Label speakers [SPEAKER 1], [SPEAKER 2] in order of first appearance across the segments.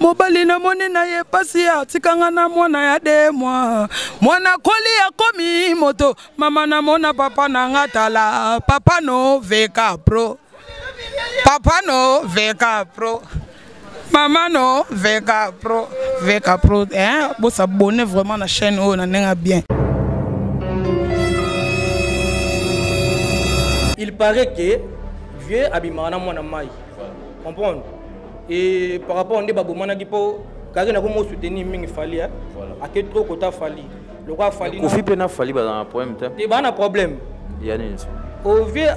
[SPEAKER 1] mobali na moni na ye pasi ya atikanga na mwana ya de mwa mwana koli akomi moto mama na mona papa na nga tala papa no veka pro papa no veka pro mama no veka pro veka pro eh, bosabone vraiment na chaîne oyo na ndenge bien
[SPEAKER 2] il paraît que vieux abimaka na mwana mai comprendre et par rapport nde babomanaki mpo kake nako mo soutenir mingi fali hein. voilà. ake trop kota fali lokola fali kofi mpe na fali bazala na
[SPEAKER 3] problème te te baa na problème
[SPEAKER 2] ya nini
[SPEAKER 3] ovie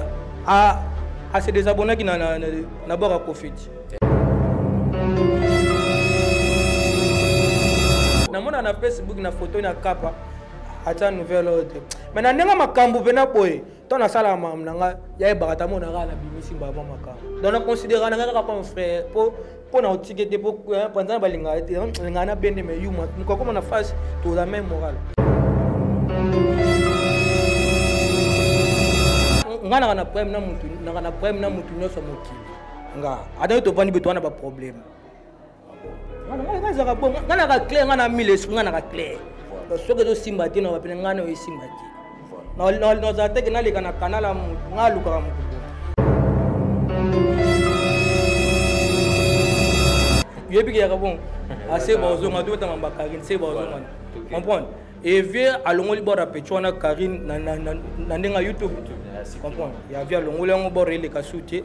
[SPEAKER 2] ase desabonnaki na, na, na, na bord ya kofiti namona na facebook na photo na kapa ata nouvelle oyo te mai na ndenge makambo mpe na boye to nasalaka makambo na ngai yayebaka ta mona kaka nabimisi mbala mwa makambo donc naconsidera na ngai kaka comme frère mpo mpo na otike te mpo mpanza na balingaka te lingaka na bende mai yuma mokakoma na face toza mai moral ngai naka na problème na motu naka na problème na motu nyonso mokili nga ata yo tofandi beto wana baproblème ngai ezalaka bo ngai naka claire ngai na mille esprit ngai naka claire soki ezosimba te na bapene ngai nayo esimba te nazala teke naleka na kanal ya motu ngai alukaka motu yebi ke yaka bon ase baozonga to betanga ba karine se baozonga comprendre e vie alongoli bord ya pecho wana karine na ndenge ya youtube comprendre ya vie alongoli yango bord eleka su te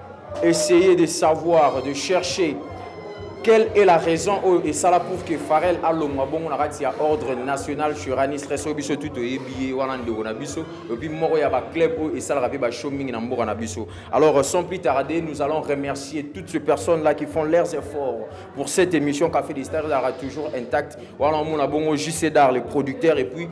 [SPEAKER 3] essayer de savoir de chercher quelle est la raison oyo esala pour que farel alongwa bongo na kati ya ordre national churanistres oyo biso tu toyebi ye wana ndeko na biso epuis moko ya baclub oyo esalaka mpe bashow mingi na mboka na biso alors sans plus tarder nous allons remercier toutes ces personnes là qui font leurs efforts pour cette émission café des stars ezalaka toujours intact wana omona bongo jcdar le producteur epuis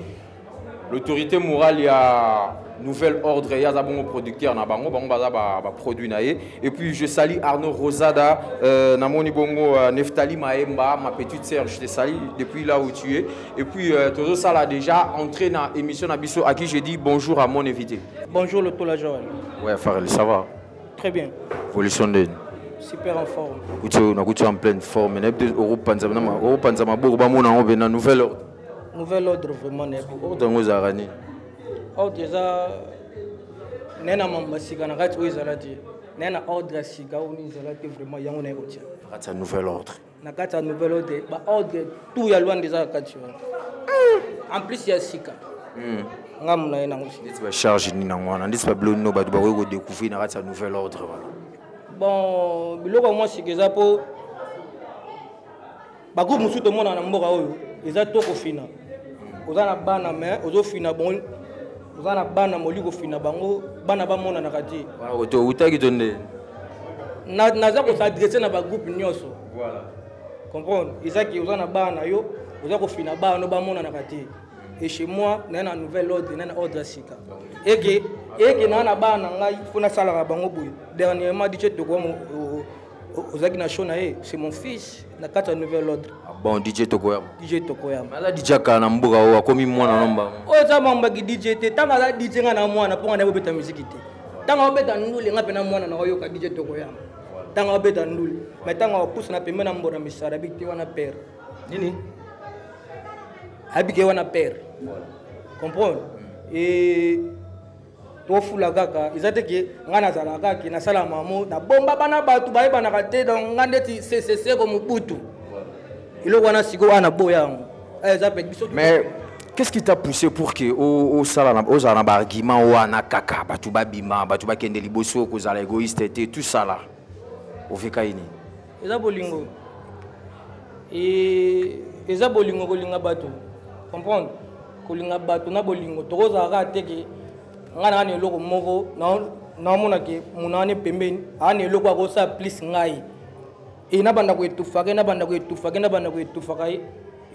[SPEAKER 3] l'autorité morale ya nouvel ordre ye aza bongo producteur na bango bango baza baproduit na ye et puis je sali arnaud rosada euh, namoni bongo euh, neftali maemba ma petite sœur je te sali depuis là où tu es et puis euh, tozosala déjà entré na émission na biso à qui je dis bonjour à mon invité bonjour le tola joël
[SPEAKER 2] ouais farel ça va
[SPEAKER 3] très bien évolution
[SPEAKER 2] ndeni
[SPEAKER 3] super en
[SPEAKER 2] forme nakuti en pleine
[SPEAKER 3] forme nayebi te okopanza maboko bamona yango mpe na nouvel ordre nouvel ordre
[SPEAKER 2] vraiment nayebi ordre yango ezalaka
[SPEAKER 3] nini ordre
[SPEAKER 2] eza naye na mambo masika na kati oyo ezala te naye na ordre ya sika oyo nini ezala te vraiment yango naye kotia na kati ya nouvel ordre
[SPEAKER 3] na kati ya nouvel
[SPEAKER 2] ordre baordre tout ya lwanda eza na kati wana en plus ya sika hmm. nga mona ye nango ndeti bacharge nini yango
[SPEAKER 3] wana ndeti babilo nino bato bakoki kodecouvrir na kati ya nouvel ordre wana bon
[SPEAKER 2] biloko ya mwa sika eza mpo bagroupe mosusu tomonaka na mboka oyo eza to kofina oza na bana me ozofina bango oza na bana moli kofina bango bana bamonanaka te outaki to
[SPEAKER 3] nde
[SPEAKER 2] naza kosadresse na bagroupe nyonso comprendre ezaki oza na bana yo oza kofina bana no bamonanaka te et chez moi naye na nouvelle ordre naye na ordre ya sika eke eke naa na bana na ngai mpo nasalaka bango boye dernièrement dice tokoa ozalaki na show na ye c'est mon fils na kati ya nouvel ordre ah bon dj tokoyama
[SPEAKER 3] dj tokoyama aza dj
[SPEAKER 2] akala na
[SPEAKER 3] mboka oyo akomi mwana na mbango oyo eza mambaki dj
[SPEAKER 2] te ntango aza dj ngai na mwana mpo ngai naye kobeta miziki te ntango abeta ndule ngai mpe na mwana na oyoka dj tokoyama ntango abeta ndule mai ntango apusa na pembe na mbona misala abiki te wana pere nini abiki ye wana pere comprendre hmm. tofula kaka eza te ke ngai nazalaka kaka ke nasala mamo nabomba bana bato bayebanaka te donc ngai ndeti seseseko mobutu eloko wana sikoyo wana naboya yango
[SPEAKER 3] eh, eza mpe biso mais qu'est-ce qui t'a poussé pour que osala na ozala na baargument wana kaka bato babima bato bakende liboso kozala égoïste te tout ça là oveka ye nini eza bolingo
[SPEAKER 2] eza bolingo kolinga bato comprendre kolinga bato na bolingo tokozala kaka te ke ngai naa na eloko moko naomona ke muna wana pembeni aa na eloko akosala plus ngai e nabanda koetufaka ye nabanda koetufaka ye nabanda koetufaka ye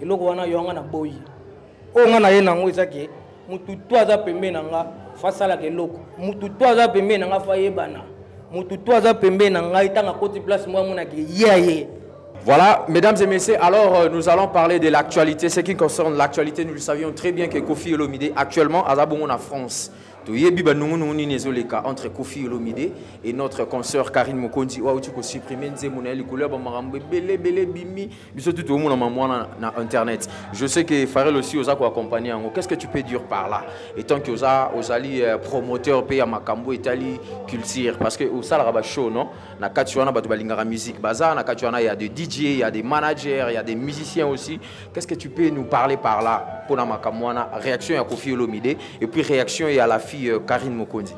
[SPEAKER 2] eloko wana yo anga na boyi oyo nga naye nango eza ke mutu to aza pembe na nga fasalaka eloko mutu to aza pembe na nga fayebana mutu to aza pembe na ngai ntango akoti place moko amonaka ye aye Voilà,
[SPEAKER 3] mesdames et messieurs, alors euh, nous allons parler de l'actualité. Ce qui concerne l'actualité, nous le savions très bien que Kofi Olomide, actuellement, à Zabongo, en France, toyebi banungu nungu nini ezoleka entre kofi olomide et notre consoeur karine mokonzi oyo auti kosupprime nzembo na ye likolo ya bamakambo ebele ebele ebimi biso tu toomona mama wana na internet je sais que farel aussi oza koaccompagne yango qu'est ce que tu peux dire par là étant que oza ozali euh, promoteur mpe ya makambo etali culture parce que osalaka bashow non na kati wana bato balingaka musique baza na kati wana ya de dj ya de manager ya de musicien aussi qu'est ce que tu peux nous parler par là mpo na makambo wana réaction ya kofi olomide et puis réaction ya la fille euh, karine mokonzi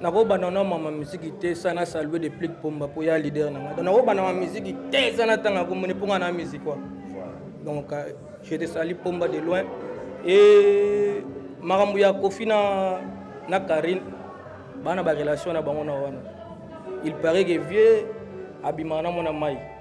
[SPEAKER 3] nakobanda
[SPEAKER 2] na mama miziki te sana salue de plik pomba mpo ya leader na ngai donc nakobanda mama miziki te sana ntango akomoni mpo ngai na miziki wa donc euh, je te sali pomba de loin e makambo ya kofi na na karine bana barelation na bango na wana il paraît que vieux abimaka na mwana mai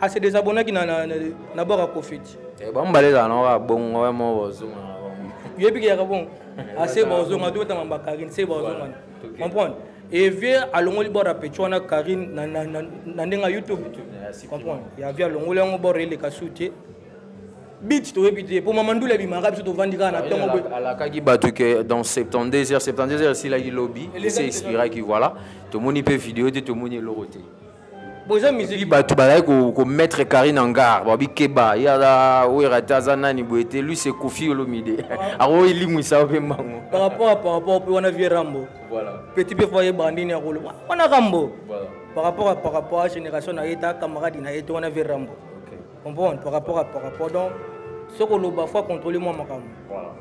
[SPEAKER 2] a se desabonnaki na, na, na, na bord ya kofeti eh, bango bale ezala
[SPEAKER 3] nao kaka bongo ya moko bozonga na bango yebi keyaka
[SPEAKER 2] bongo ase baozonga totanga mba karine se baozonga comprendre et vie alongoli bord ya pecho wana karine na, na, na, na ndenge ya youtube comprendre ya vie alongoli yango bord eleka su te bit toyebi te mpo mama ndula ebimaka biso tovandi kaka na ntongo boye alakaki bato
[SPEAKER 3] ke dans 72 heures 72 heures esilaki lobi esi expiraki voilà tomoni mpe video te tomoni eloko te boza
[SPEAKER 2] musiki bato bazali komettre
[SPEAKER 3] carine en gare babi keba ye aza wera te aza nani boye te lui se kofi olomide ako elimwisa yo mpe mbango par rapport à par rapport
[SPEAKER 2] mpe wana vie rambo petit mpe foye bandi nini akoloba wana rambo par rapport à par rapport à génération na ye ta camarade na ye te wana vie rambo comprendre par rapport à par rapport donc soki oloba fo acontrole mwa makambo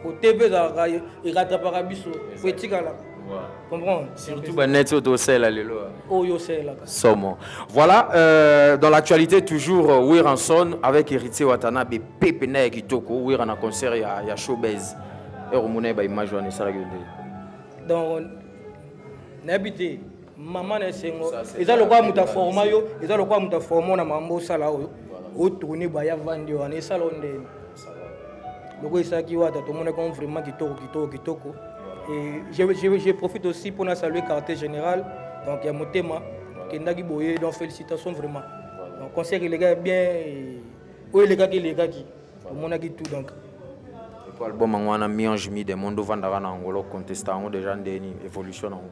[SPEAKER 2] po tv ezalaka eratapaka biso po etikala comprendre surtout baneti oyo
[SPEAKER 3] tosala lelo oyo osalelaka
[SPEAKER 2] somo voilà
[SPEAKER 3] euh, dans l'actualité toujours euh, wiranson avec héritier watanabe pepe na ya kitoko wira na concert ya, ya showbase ekomona ye baimage wana esalaki yo nde donc
[SPEAKER 2] nayebi te mama na esengo eza lokola moto aforma yo eza lokola moto aforma na mambo osala oyo otourne baya vandi wana esala o ndeni lokola esalaki wata tomonaki on vraiment kitoko kitoko kitoko et je, je, je profite aussi mpona saluer quartier général donc ya motema kendaki boye donc félicitation vraiment donc concert elekaki bien oyo elekaki elekaki omonaki tout donc po
[SPEAKER 3] album yango wana mionge mi de monde ovandaka na yango lokontesta yango deja ndeni évolution na yango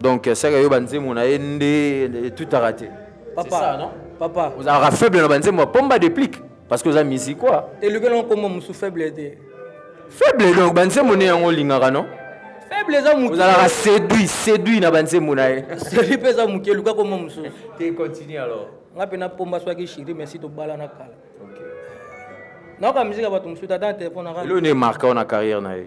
[SPEAKER 3] donc saka yo banzembo na ye nde etutaka te papa ça, non?
[SPEAKER 2] papa ozalaka faible na banzembo
[SPEAKER 3] ya pomba deplique parce que oza musique quoi elukela nkombo mosu
[SPEAKER 2] faible te faible
[SPEAKER 3] donc banzembo nde yango olingaka non faible eza moke
[SPEAKER 2] ozalaka séduit
[SPEAKER 3] séduit na banzembo na ye séduit mpe eza moke
[SPEAKER 2] eluka kombo mosusu te continue
[SPEAKER 3] alors nga mpe napomba swaki
[SPEAKER 2] shiri merci tobalana kala nayoka miziki ya bato mosusu ata na telefone aka elo nde marka ona carrière
[SPEAKER 3] na ye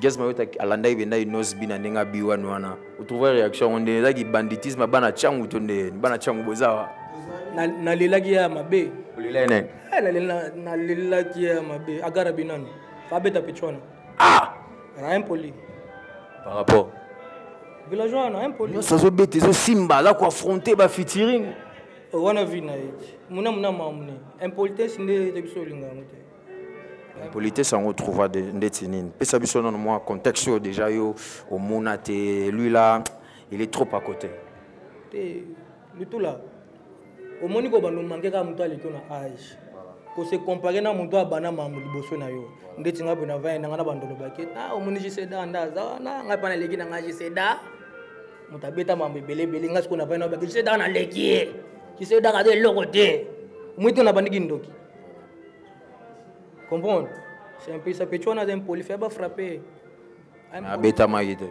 [SPEAKER 3] Gaz Mayota alandaki bendaki Nosby na ndenge abi wana wana otrouva réaction yango nde ezalaki banditisme bana
[SPEAKER 2] cangu
[SPEAKER 3] to nde bana
[SPEAKER 2] cangu
[SPEAKER 3] bozawa nalelaki ya
[SPEAKER 2] mabe
[SPEAKER 3] olelaki nani eh,
[SPEAKER 2] nalelaki ya mabe agara binano abeta pecho wana ah na impoli
[SPEAKER 3] par rapport villageois
[SPEAKER 2] wana impoli nyonso azobeta ezosimba
[SPEAKER 3] aza koaffronte bafitiring oh, wana vi
[SPEAKER 2] na ye muna muna mamune impolitesse nde ete biso olinga yango te politesse
[SPEAKER 3] yango trouva ndeti nini pesa biso nano mwa contexte oyo déjà yo omona te lui là il est trop à côté te
[SPEAKER 2] lutula omoni ko bando manke kaka moto aleki na age kose compare na moto abana mambo liboso na yo ndeti ngai pona vai nanga na bando olobaki a ah, omoni giseda nda aza wana ngai mpa naleki na ngai giseda moto abeta mambo ebele ebele ngai sikoyo na vai na obaki giseda naleki ye giseda kaza eloko te omoni to na bandiki ndoki comprendre c'est un peu ça petit wana aza impoli fai bafrappe
[SPEAKER 3] abetamaki te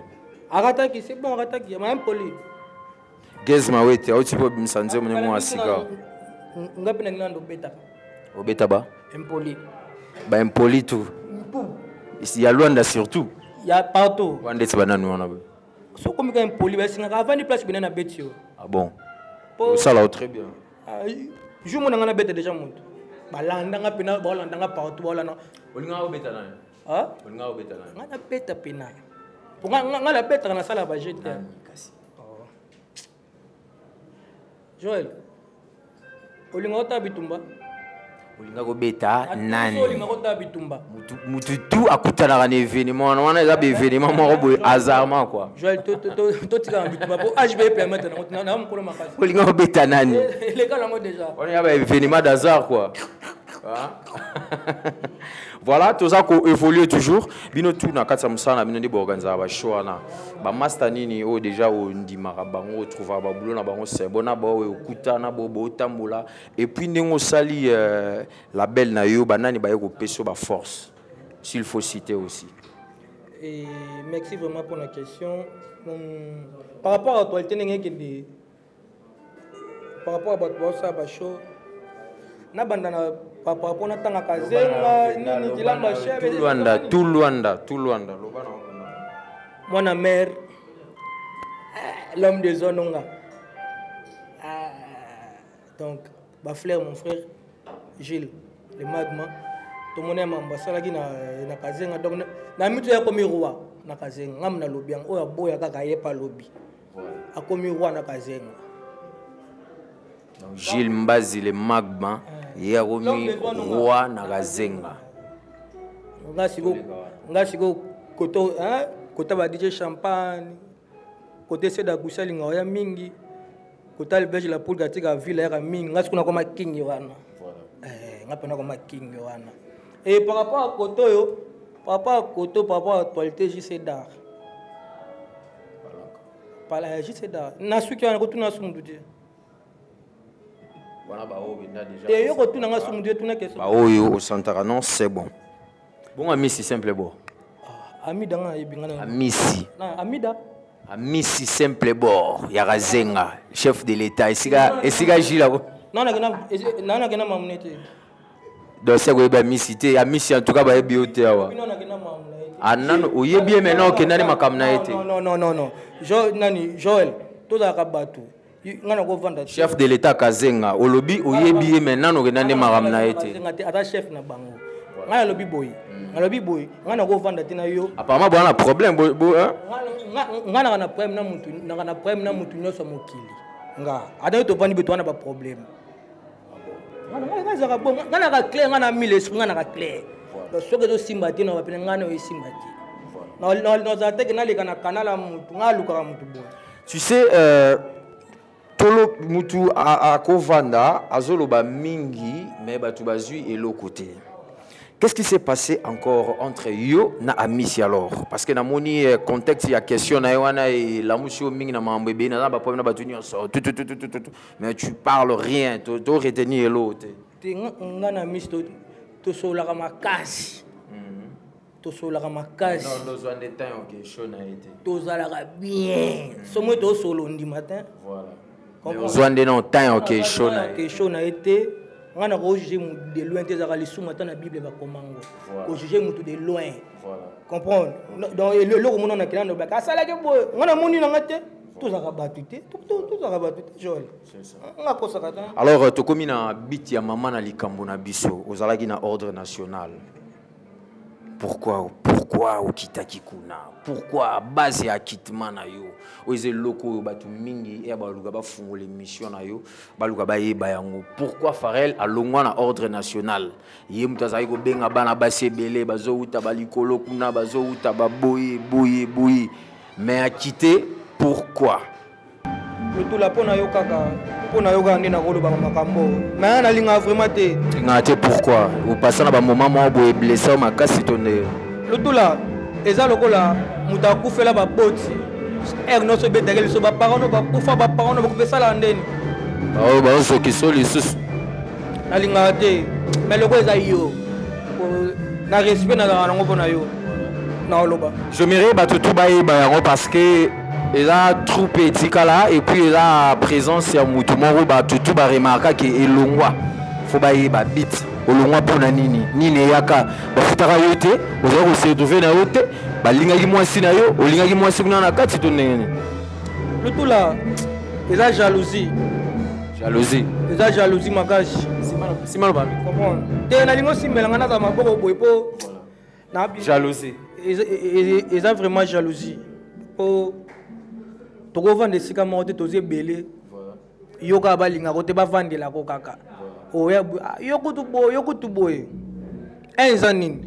[SPEAKER 3] akataki c'est
[SPEAKER 2] bon akataki ma impoli gez
[SPEAKER 3] mawete auti mpo obimisa nzembo ndenge mwa sika nga mpe
[SPEAKER 2] nalingi nando obetaka obeta ba
[SPEAKER 3] impoli
[SPEAKER 2] ba impoli
[SPEAKER 3] tout ya luanda surtout ya partout
[SPEAKER 2] wana ndeti banani wana
[SPEAKER 3] boye sokomika
[SPEAKER 2] impoli basingaka avandi place bene na beti yo ah bon
[SPEAKER 3] osala très bien ah, jour
[SPEAKER 2] mona nga nabeta deja moto balandanga mpena baolandanga partout baolanda olingaka obeta nayo
[SPEAKER 3] olingaka obeta
[SPEAKER 2] nayo nga
[SPEAKER 3] nabeta
[SPEAKER 2] mpena nga nabetaka nasala baje te kasi oh. joel olingaka otala bitumba olinga
[SPEAKER 3] kobeta nani
[SPEAKER 2] mutu tu
[SPEAKER 3] akutanaka na événement wana wana eza baévénement moko boye hasardement koi
[SPEAKER 2] olinga kobeta nani wana ya baévénement
[SPEAKER 3] d'hasard koi Hein? voilà toza évoluer toujours bino tout na kati ya mosala na bino nde boorganisaka bashow wana bamasta nini oyo deja ondimaka bango otrouvaka babulo na bango se bona baoyo okutana bo botambola Et puis ndenge osali euh, la belle na yo banani baye kopesa ba force s'il faut citer aussi. Et
[SPEAKER 2] merci vraiment pour la question. Hum, par rapport à l'actualité ndenge ekende par rapport à bato baosala bashow nabanda na par rapport na ntangaka zenga nini kilamba chelwanda tout lwanda
[SPEAKER 3] tout lwanda loba na
[SPEAKER 2] mwana mare eh, l'homme de zone onga donc ba fleur mon frère Gilles le magma tomoni ya mambo asalaki na, na kazenga donc na mitu ya komi roi na kazenga ngam na lobi yango oyo aboya kaka ye pa lobi akomi roi na kazenga
[SPEAKER 3] Gilles Mbazi le magma eh. ye akomi roi na kazenga nga siko
[SPEAKER 2] nga siko koto hein kota ba DJ champagne kote sede agusi alinga oya mingi kota libege la poule katika ville yaka mingi nga sikuna koma kingi wana eh, nga pena koma kingi wana e par rapport ya koto oyo par rapport ya koto par rapport ya actualité jc dar pala ya jc dar nasuki wana kotuna su mutu te wana
[SPEAKER 3] baoyo benda deja te yo kotuna nga sumu nde tuna keso baoyo osantaka non c'est bon bongo amisi simple bo ah, amida nga ayebi nga amisi amida amisi simple bord ya kazenga chef de l'état esika esika jila ko nana
[SPEAKER 2] kena nana kena mamune te
[SPEAKER 3] donc seko yeba amisi te amisi en tout cas bayebi yo te awa nana kena mamune anano ah, oyebi ye maintenant okendani makambo na ye te non non non non
[SPEAKER 2] nani joel tozalaka bato nga nakovanda
[SPEAKER 3] chef de l'état kazenga olobi oyebi ye mai nano okenda nde makambo na ye te ata chef na bango
[SPEAKER 2] ngai nalobi boye hmm. nalobi boye ngai nakovanda te na yo apparemment boza na problème
[SPEAKER 3] ngai naka
[SPEAKER 2] na problème na motu naka na problème na motu nyonso ya mokili nga ata yo tovandi boye towana baproblème ngai ezaka bon ngai naka clair ngai na mille esprit ngai naka clair donc soki ezosimba te na bapene ngai nayo esimba te nazala teke naleka na kanal ya motu ngai alukaka motu boye tu sais euh,
[SPEAKER 3] tolo motu akovanda azoloba mingi mais bato bazwi eloko te Qu'est-ce qui s'est passé encore entre yo na Amisi alors Parce que namoni euh, contexte ya question na yo wana et la musio mingi na mambo ebena na ba problème na ba tout tout tout tout mais tu parles rien to to retenir elo te te nga na
[SPEAKER 2] miss to to solaka makasi mhm. to solaka makasi non no zwa nde temps
[SPEAKER 3] ok show na été to zalaka
[SPEAKER 2] bien mhm. somo to solo ndi matin
[SPEAKER 3] voilà ozwa nde na temps ok show na été show na été
[SPEAKER 2] nga na ko juger mutu de loin te zaka lisumu ata na bible ba komango ko juger mutu de loin voilà comprendre donc eloko mona na kila ndo ba ka sala ke boy nga na moni na nga te tozalaka bato te tozalaka bato te joel nga
[SPEAKER 3] akosaka ta alors euh,
[SPEAKER 2] tokomi na
[SPEAKER 3] biti ya mama na likambo na biso ozalaki na ordre national pourquoi pourquoi okitaki kuna pourquoi base ya akitima na yo oyo eza eloko oyo bato mingi eya baluka bafungola émission na yo baluka bayeba yango pourquoi farel alongwa na ordre national ye moto azalaki kobenga bana basi ebele bazowuta balikolo kuna bazowuta baboye boye boye mais a quitter pourquoi
[SPEAKER 2] lotula mpo na yo kaka mpo na yo kaka nde nakolobaka makambo me ya nalingaka vraiment te lingaka te pourquoi
[SPEAKER 3] opasa na bamoma moko boye blesse yo makasi to nde lotula
[SPEAKER 2] eza lokola moto akufela baboti ere nyonso ebetaki liso baparano bakufa baparano bakufa esalaka ndeni baoyo
[SPEAKER 3] baozokisa lisusu nalingaka
[SPEAKER 2] te mais lokola eza yo na respect nazalaka nango mpo na yo naoloba jomere bato tu
[SPEAKER 3] bayeba yango parce que eza troupe etikala epuis eza présence ya motu moko bato tu baremarkaki elongwa fo bayeba bit olongwa mpo na nini nini eyaka bafutaka yo te ozali kosetrouve na yo te balingaki mwasi na yo olingaki mwasi kuna na kati to ndenge nini lutula
[SPEAKER 2] eza jalousie jalousie eza jalousie makasi sima loba
[SPEAKER 3] te nalingi
[SPEAKER 2] osimbela ngai nazala maboko boye mpo jalousie eza vraiment jalousie mpo tokovanda esika moko te toza ebele yo kaka balingako te bavandelako kaka yo kutu boye eh, eza nini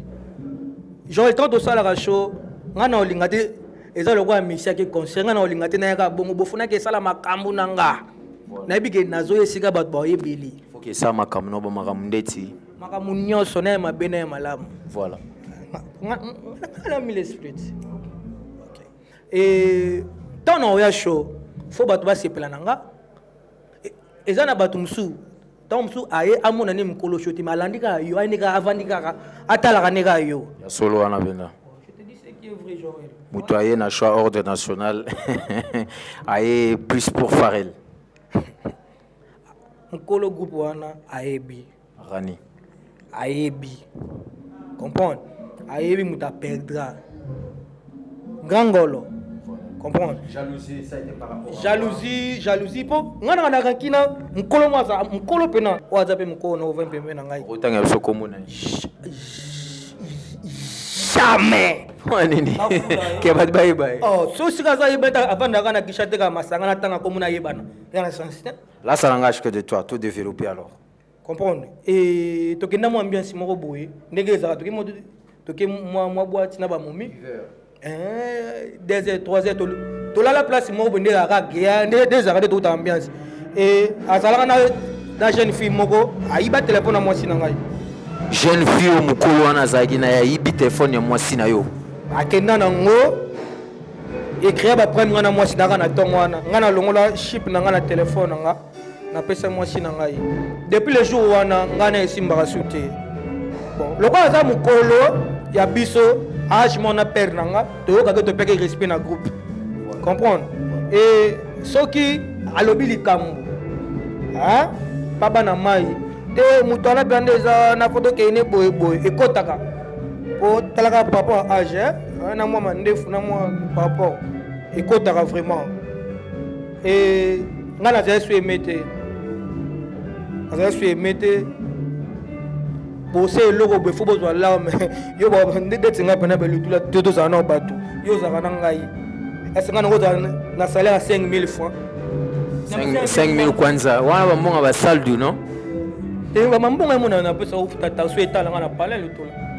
[SPEAKER 2] joel tant tosalaka show nga na olinga te eza lokola misiaki concert nga na olinga te nayaka bongo bofunaki esala makambo na nga nayebi ke nazoya esika bato baoyebeli foki esala makambo na
[SPEAKER 3] bamakambo ndeti makambo nyonso
[SPEAKER 2] naye mabe naye malamu voilà nalami l'esprit e ntango naoya show fo bato basepela na nga e, eza na bato mosusu ntango mosusu aye amona nde mokolo sho te malandi kaka yo aye nde kaka avandi kaka atalaka nde kaka yo ya solo wana mpenza moto aye na choix
[SPEAKER 3] ordre national aye plus pour farel
[SPEAKER 2] mokolo groupe wana ayebi rani
[SPEAKER 3] ayebi
[SPEAKER 2] comprendre ayebi moto aperdra grand ngolo comprendre jalousie ça était
[SPEAKER 3] par rapport jalousie jalousie po
[SPEAKER 2] nga na na kina mukolo mo aza mukolo pena o aza pe mukolo na ovin pembe na ngai otanga biso komona jamais nini
[SPEAKER 3] ke bato bayeba ye oh, so sika aza yeba
[SPEAKER 2] ete avandaka na kisha te kaka masanga na ntango akomona ayebana yana sense te lasala nga ashke de
[SPEAKER 3] toi to développe alors comprendre
[SPEAKER 2] e tokenda mwa ambiance moko boye ndenge ezalaka toke mwa toke mwa mwa bwati na bamomi eh, deux heures trois heures tolala place moko boye nde ezalaka gea nde ezalaka nde touta ambiance e azalaka na na jeune fille moko ayiba telefone ya mwasi na ngai jeune
[SPEAKER 3] fille oyo mokolo wana azalaki na ye ayibi telefone ya mwasi na yo akenda na ngo
[SPEAKER 2] ecrea baprime ngai na mwasi na ngai na ntongo wana ngai nalongola ship na ngai na telefone na ngai napesa mwasi na ngai depuis le jour wana ngai na esimbaka su te bon lokola aza mokolo ya biso age mona père na nga toyokaki topeki respect na groupe comprendre e soki alobi likambo baba na mai te moto wana mpenza nde eza na foto kende boye boye ekotaka po talaka par rapport ya age na mwa mandefu na mwa par rapport ekotaka vraiment e ngai nazali so eme te nazali so eme te bose eloko boye fo bozwa larme yo ndeti ngai mpena belutula to tozala nao bato yo ozalaka na ngai ese ngai nango ozala na salaire ya 5000 francs
[SPEAKER 3] 5000 kwanza wana bambonga basaldu no te
[SPEAKER 2] bambonga emonana napesa ofuta taso etala ngai na palais lotola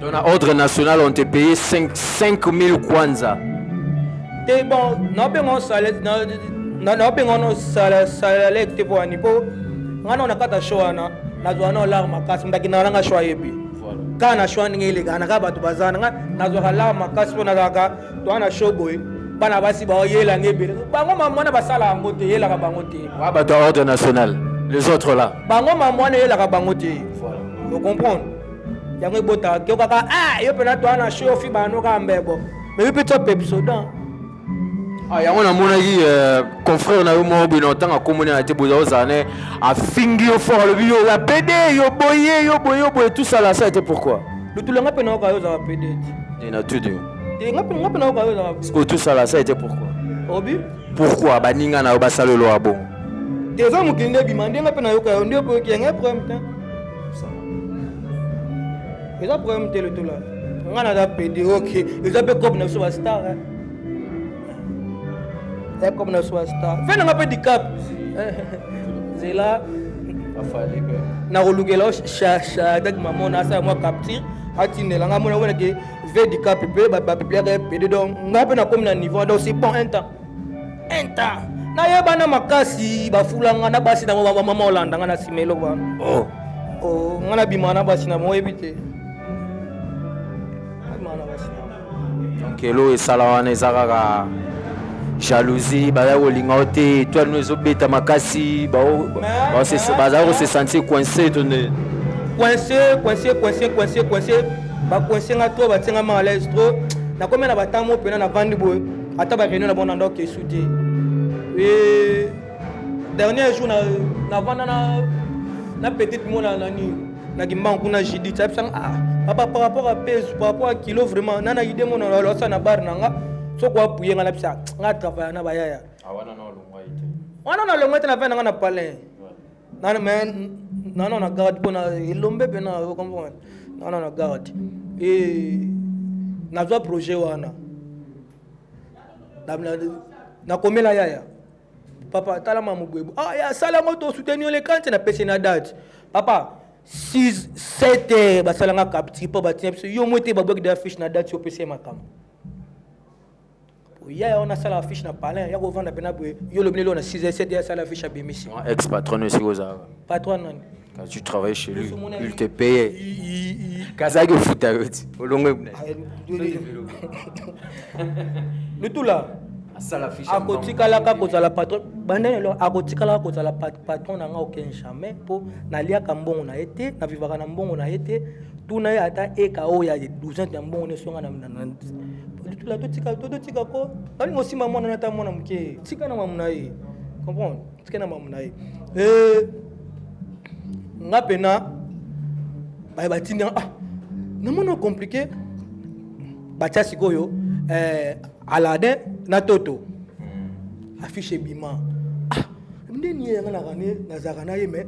[SPEAKER 3] Donc na ordre national on te paye 5 5000 kwanza. Te
[SPEAKER 2] bon, na benga on salaire na na na benga on salaire salaire te pour ani po. Ngana on akata show ana, na zwa na larme makasi ndaki na nanga show yebi. Voilà. Ka na show ndenge eleka na ka bato bazana nga na zwa larme makasi po na kaka to ana show boy. bana basi baoyela nge ebele bango mamwana basala yango te eyelaka bango te wa bato ya ordre national
[SPEAKER 3] les autres là bango mamwana eyelaka
[SPEAKER 2] bango te voilà. ocomprendre yango ebotaka ke kaka ah, yo mpena toa na shofi bano kaka mbebo me yo mpe tso pepsodan
[SPEAKER 3] ah, yango namonaki euh, confrère na yo moko bino ntango akomoni na te boza ozala ne afingi yo fort alobi yo ya pede yo boye yo boye yo
[SPEAKER 2] boye
[SPEAKER 3] tusala
[SPEAKER 2] sa
[SPEAKER 3] te
[SPEAKER 2] pourquoi
[SPEAKER 3] lutulu
[SPEAKER 2] nga
[SPEAKER 3] mpe nayoka
[SPEAKER 2] yo ozala
[SPEAKER 3] pede te
[SPEAKER 2] na
[SPEAKER 3] tudu
[SPEAKER 2] nga mpe nayoka yo
[SPEAKER 3] ozala sikoyo tusala sa te pourquoi obi
[SPEAKER 2] pourquoi baninga
[SPEAKER 3] na yo basala eloko ya bongo te eza mokili
[SPEAKER 2] nde ebima nde nga mpe nayoka yo nde okoyoki yango problème te eza problème te lotola nga naza pede ok eza mpe cope na biso bastar ya cope na biso bastar fe nanga mpe dicap nzela
[SPEAKER 3] nakolukela
[SPEAKER 2] shadaki mamona asala mwa capture atindela nga mona monake ve dicap mpe bapibliaka pede donc nga mpe nakomi na niveau donc c'est bon un temps enta nayeba na makasi bafulanga na basi nango bamama olanda nga na nsima eloba oh. oh, nga nabima na basi na moyebi te kelo esala
[SPEAKER 3] wana eza kaka jalousie bazali kolinga yo te etoile no ezobeta makasi bazali kose sentir coince to nde coince coince
[SPEAKER 2] coince coince coince bacoince nga to batie nga malaise trop nakomi na batango mpena na vandi boye ata bareunion na bango na ndako esu te e dernier jour navanda na, na petite mona nani na kimbangu kuna judith ayebisanga ah, papa par rapport a peso par rapport a kilo vraiment nana ide mona losa na bare na nga soko apuye nga nabisa ah, nga travaya na bayaya ah,
[SPEAKER 3] wana nalongwa te na
[SPEAKER 2] vai na nga na palin nana mais nana na garde mpo na elombe mpe na ocomprendre nana na garde e nazwa projet wana nakomela yaya papa talama mobwebu ah ya sala yango tosuteni yo lekanti napesi na date papa 6 7 heures basalanga capture mpo batina biso yo mwe te babwaki da fiche na date yo opesi ye makambo yaya wana asala affiche na palin ya kovanda mpena boye yo olobi nelo na 6 7 asala affiche abimisi ex patron esika
[SPEAKER 3] ozalaka patron nani
[SPEAKER 2] Quand tu travailles chez
[SPEAKER 3] lui, il te payait. Kazaki au foot à l'autre. Au long de
[SPEAKER 2] Le tout là. akotikalaka kozala patron bandani eloko akotikalaka kozala patron na nga oken jamais mpo naliaka mbongo na ye te navivaka na mbongo na ye te tuna ye ata eka oyo ya 12 ya mbongo nyonso nga tula totika totika ko nalingi osimba mwana na ata mwana moke tika na mamu na ye comprendre tika na mamu na ye eh, nga mpena baye batindi ah namona compliqué batya sikoyo eh, aladin na toto hmm. affiche ebima ah ndeni ye yanga na rane nazalaka na ye mais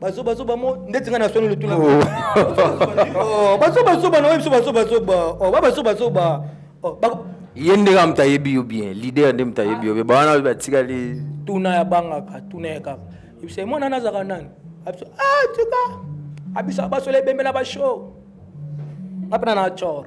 [SPEAKER 2] bazobazoba mo ndeti ngai naswani lotuna oh. bazobazoba na oyo biso bazobazoba oh, babazobazoba oh, ye
[SPEAKER 3] nde kaka moto ayebi yo bien lider nde moto ayebi yo bien bawana oyo batikali tuna ya bangaka
[SPEAKER 2] tuna ya kaka ebisa mwana na azalaka nani abiso ah, tika abisa basola ebembe na bashow apena na cor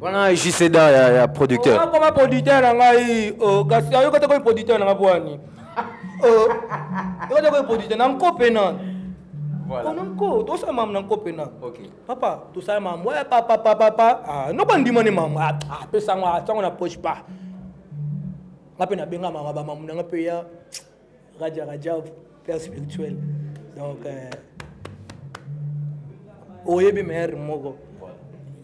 [SPEAKER 2] wana
[SPEAKER 3] jseda ya, ya producteur akoma producteur na
[SPEAKER 2] ngai oh, kasi ayoka te komi producteur na ngai bwani oh, yoka te komi producteur na nko mpe nani Voilà. On nko tosala mamu na nko mpena okay. papa tosala mamu ya papa papa pa ah, noko andima ne mamu apesango ah, ah, atango na poche pa nga mpe nabenga mama bamamu na nga mpe ya Raja Rajab, père spirituel. Donc, euh, oyebi meilleur moko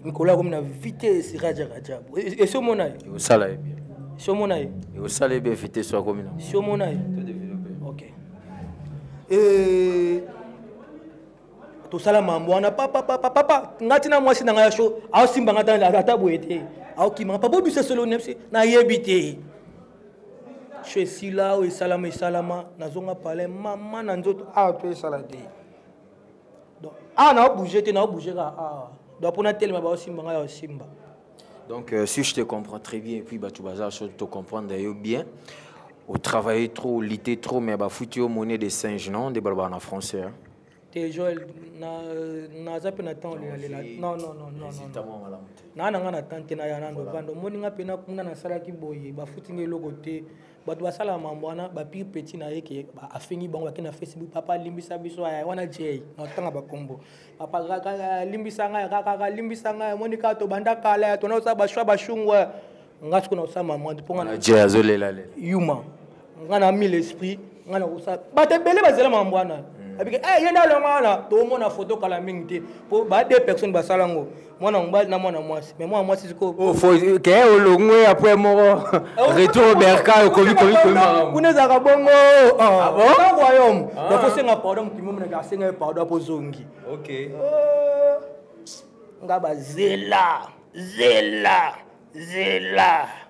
[SPEAKER 2] nkolo akomi na vitesse raja rajab esi omona ye osala ye bien
[SPEAKER 3] si omona ye
[SPEAKER 2] osala ye bien
[SPEAKER 3] vitesse akomi na si omona ye
[SPEAKER 2] ok eh, tosala mambo wana papapapapa ngai tina mwasi na ngai ya sho aosimba ngai ata boye te aokima papa obisa solo nayebi te sho esila oyo esalama esalama nazonga palin mama na nzoto awa to esala te donc awa na obouge te na obouge kaka awa donc mpo natelema baosimba ngai yaosimba donc euh,
[SPEAKER 3] si je te comprends très bien et puis bato baza so to comprendre yo bien otravaille trop olite trop mais bafuti yo monnaie de singe non nde balobaka na français hein? te
[SPEAKER 2] joel naza mpe na temps olelalela non non non non naa na ngai na temps te naya nando vanda omoni ngai mpe nakuna nasalaki boye bafuti ngai eloko te bato basalaka mambo wana bapire petit na ye ke afingi bango bake na facebook papa alimbisa biso wana jay na otanga bakombo papa alimbisa ngai kakaka alimbisa ngai omoni kaka tobanda kala ya tona osala bashwa bashungwe nga siko na osala mamwa mpo nga je azolela le
[SPEAKER 3] yuma
[SPEAKER 2] nga na mille esprit nga na kosala bato ebele bazela mambo wana hmm. abike eh ye nda longa wana tomona foto kala mingi te mpo ba deux personnes basala ngo mwana mobali na mwana mwasi mais mwana mwasi siko oh, ke
[SPEAKER 3] olongwe après moko eh, retour berka okomi komi komi makambo kuna ezalaka
[SPEAKER 2] bongo ah. Ah ah. royaume donc osenga pardon moto momo nake asenga ye pardon apo ozongi ok
[SPEAKER 3] oh.
[SPEAKER 2] nga bazela zela
[SPEAKER 3] zela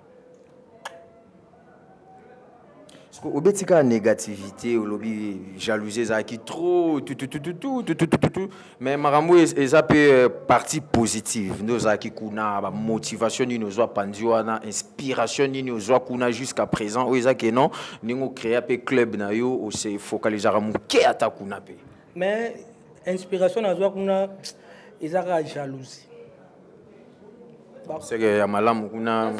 [SPEAKER 3] obeti kaka négativité olobi jalousie ezalaki trop mais makambo eza mpe euh, partie positive nde ozalaki kuna bamotivation nini ozwa panzi wana inspiration nini ozwa kuna jusqu'à présent oyo eza ke non ndenge ocréa mpe club na yo ose focalisaka moke ata kuna mpe mais
[SPEAKER 2] inspiration nazwa kuna eza kaka jalousie
[SPEAKER 3] seke ya malamu kuna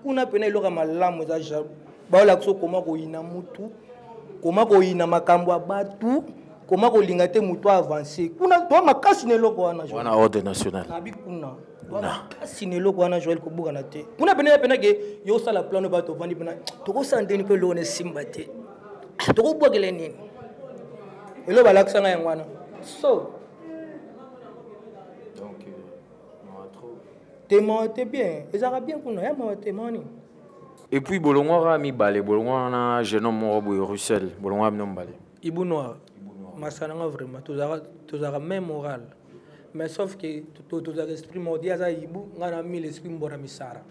[SPEAKER 2] kuna pena eloko ya malamu eza jaloux baola biso koma koyina mutu koma koyina makambo ya batu koma kolinga te motu avance kuna toa makasi na eloko wana wana ordre national
[SPEAKER 3] abi kuna
[SPEAKER 2] makasi na eloko wana joel kobukana te kuna pene ya pena ke yo osala plano bato ovandi pena tokosala ndeni mpe eloko na esimba te ah, tokobwakela nini eloko balakisanga yango wana so
[SPEAKER 3] donc euh, mawa trop te mawa te bien
[SPEAKER 2] ezalaka bien kuna ya mawa te mawa nini et puis
[SPEAKER 3] bolongwa kaka mibale bolongwa wana jeune homme moko boye russel bolongwa bino mibale ibu noir
[SPEAKER 2] masana nga vraiment tozalaka même moral mais sauf que tozalaka esprit moko ye aza ibu ngai na mille esprit mbora misara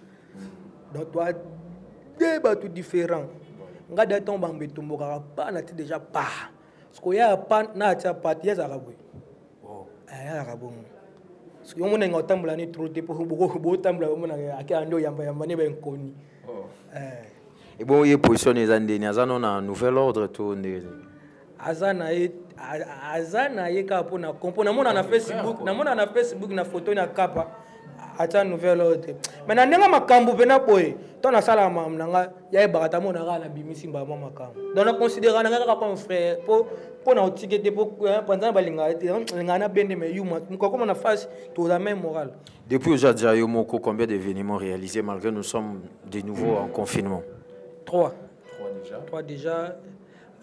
[SPEAKER 2] donc toa de bato différent ngai da ntango bango betombokaka pa na ti déjà pa siko ya pan na atia pati ya zaka boye oh. eh, ya zaka bongo siko yo mona nga otambola ni trop te po boko bo tambola yo mona ake ando yamba yamba ne ba nkoni oh. eh
[SPEAKER 3] et bon ye position eza ndeni aza no na nouvel ordre to ndeni aza
[SPEAKER 2] na ye aza na ye kaka mpo na kompo namona na facebook namona na facebook na photo na kapa atia nouvelle oyo te mai na ndenge makambo mpena boye to nasalaka makambo na ngai yayebaka ta mona kaka na bimisi mbala mwa makambo donc naconsidéraka na ngai kaka comme frère mpo mpo na otike te mpo panzana balingaka te lingaka na bende mai yuma mokakoma na face toza mai moral depuis oza deja yo
[SPEAKER 3] moko combien d'événements réalisés malgré nous sommes de nouveau en confinement trois
[SPEAKER 2] trois déjà trois déjà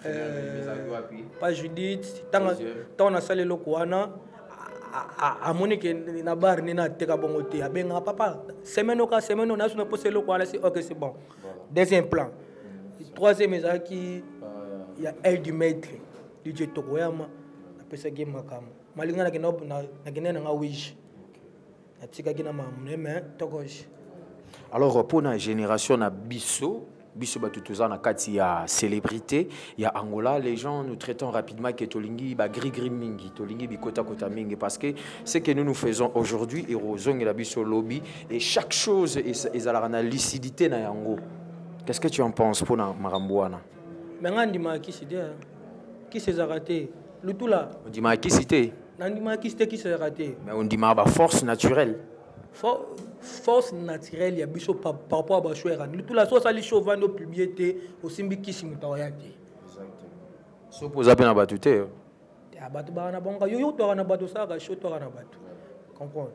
[SPEAKER 2] euh, pa judith ntango nasala eloko wana amoni ke na bar nini ateka bongo te abengaka papa semaine oka semaine nayo sona mposa eloko wana si ok c'est bon deuxième plan troisième ezalaki ya aile du maître didje tokoyama napesaki ye makambo malinga nakendaki nanga wige natikaki na mamune me tokoji
[SPEAKER 3] alors mpo na génération na biso biso bato toza na kati ya célébrité ya angola les gens nous traitons rapidement que tolingi bagrigri mingi tolingi bikotakota mingi parce que ce que nous nous faisons aujourd'hui ekozongela biso lobi et chaque chose ezalaka na lucidité na yango qu'est ce que tu en penses mpo na makambo wana me nga andimaka
[SPEAKER 2] kisi te kisi ezalaka te lutula ondimaka kisi te
[SPEAKER 3] nandimaka kisi te kisi
[SPEAKER 2] ezalaka te mais ondimaka baforce
[SPEAKER 3] naturelle
[SPEAKER 2] force naturelle ya biso par rapport ya bashwere ani lutula so osali sho ovandi opiblie te osimbi kisi moto akoya te
[SPEAKER 3] soki oza mpe na bato te bato
[SPEAKER 2] baka na bango yo yo otwaka na bato osalaka sho otwaka na bato comprendre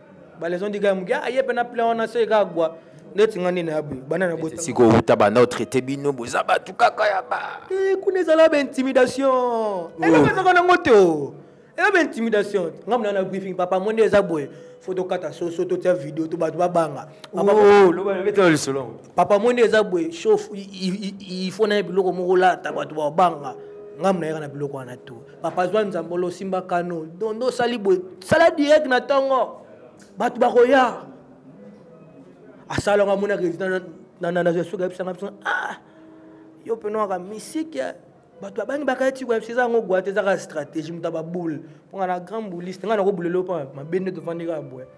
[SPEAKER 2] balezo ndika muke aye pena plan wana se ka gwa neti nga nini abu bana na bota siko uta banda traité
[SPEAKER 3] bino boza batu kaka ya ba eh kuna ezala ba
[SPEAKER 2] intimidation elo oh. pesa kana ngote o elo ba intimidation nga mna na briefing papa monde eza boye faut tokata soso totya video to bato babanga oh, papa monde eza boye chauffe il faut na ye biloko moko lata bato babanga nga mna yaka na biloko wana to papa zwa nzambolo osimba kano dondo osali boye sala direct na ntongo bato bakoya asalaka mona résident nananazosuka yebisanga biso ah yo mpe noaka misiki bato babangi bakaya tiko yebisa eza yango gwate ezaka stratégie moto ya baboule mponga na grand bouliste ngai nakobulele yo mpa mabe nde tofandi kaka boye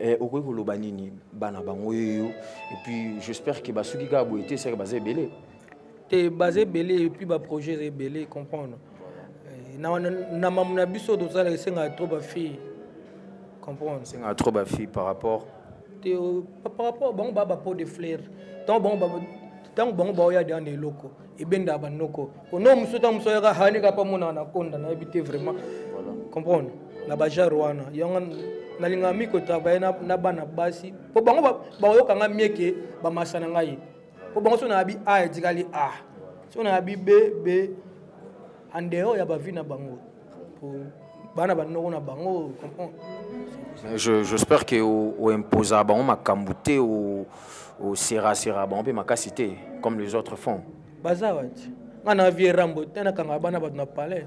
[SPEAKER 3] Eh, okoki koloba nini bana bango yeyo epuis j'espère ke basuki kaka boye te seke baza ebele te baza
[SPEAKER 2] ebele epuis baprojet eza ebele comprendre eh, na mamu na biso tozalaka esengaka trop bafille comprendre esengaka trop bafille
[SPEAKER 3] par rapport te euh, par
[SPEAKER 2] rapport bango baa bapo de flaire ntango bango ntango bango baoya deya na eloko ebendaka banoko ono mosusu ntango mosusu ayaka hani kapa monaka na konda nayebi te vraiment comprendre na bajare wana yango nalingaka mi kotravaille na bana basi mpo bango bakoyoka ngai mieke bamasa na ngai mpo bango so nayabi a etikali a so nayabi b b en dehors ya bavi na bango bana banoko na bango comprendre
[SPEAKER 3] j'espère que oimposa bango makambo te oserasera bango mpe makasi te comme les autres font baza wati
[SPEAKER 2] ngai na vie rambo te nakanga bana bato na palais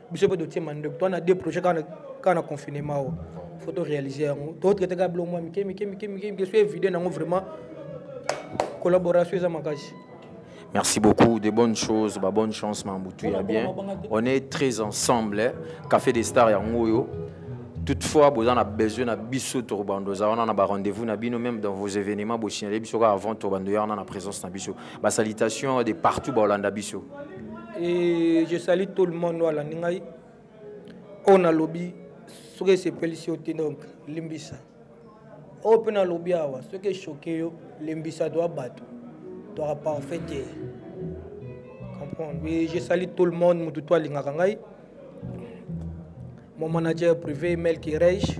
[SPEAKER 2] biso mpe totie mandoki toa na deux projet kaka na confinement oyo fo to réalise yango totraite kaka biloko mwa mike mike mike mike mike so evide nango vraiment collaboration eza makasi Merci
[SPEAKER 3] beaucoup, des bonnes choses, bah, bonne chance, Mambutu, ya bien. On est très ensemble, hein. Café des Stars, Yangoyo. Toutefois, vous avez besoin de bisous, Torbando, on a rendez-vous, même dans vos événements, vous signalez, avant Torbando, on a la présence de bisous. ba salutations de partout ba olanda biso et
[SPEAKER 2] je salue tout le monde wala ningai on a lobby soki esepelisi yo te donc limbisa oyo mpe nalobi awa soki eshoke yo lembisa toa bato toaka parfait te comprendre et je sali tout le monde motu to alingaka ngai mon manager privé melki reich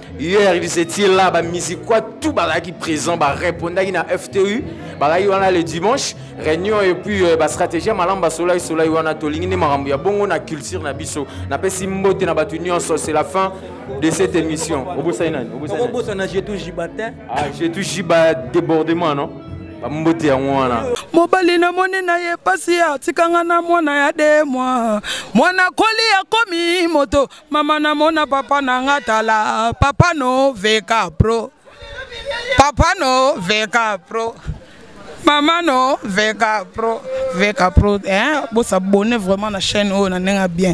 [SPEAKER 3] hier ils étaient là bamisiquoi tout bazalaki présent barépondaki na ftu bazalaki wana le dimanche réunion et puis euh, bastratégie ya malamu basolaki solaki wana tolingi nde makambo ya bongo na culture na biso napesi mbote na bato nyonso c'est la fin de cette émission obosani nani obosana
[SPEAKER 2] jetou jiba te ah jetou jiba
[SPEAKER 3] débordement non bambote yango wana mobali
[SPEAKER 1] namoni na ye mpasi atikanga na mwana ya de mwa mwana koli akomi moto mama namona papa na nga tala papa no veka pro papa no veka pro mama no veka pro veka pro eh, bosabone vraiment na chaîne oyo na ndenge ya bien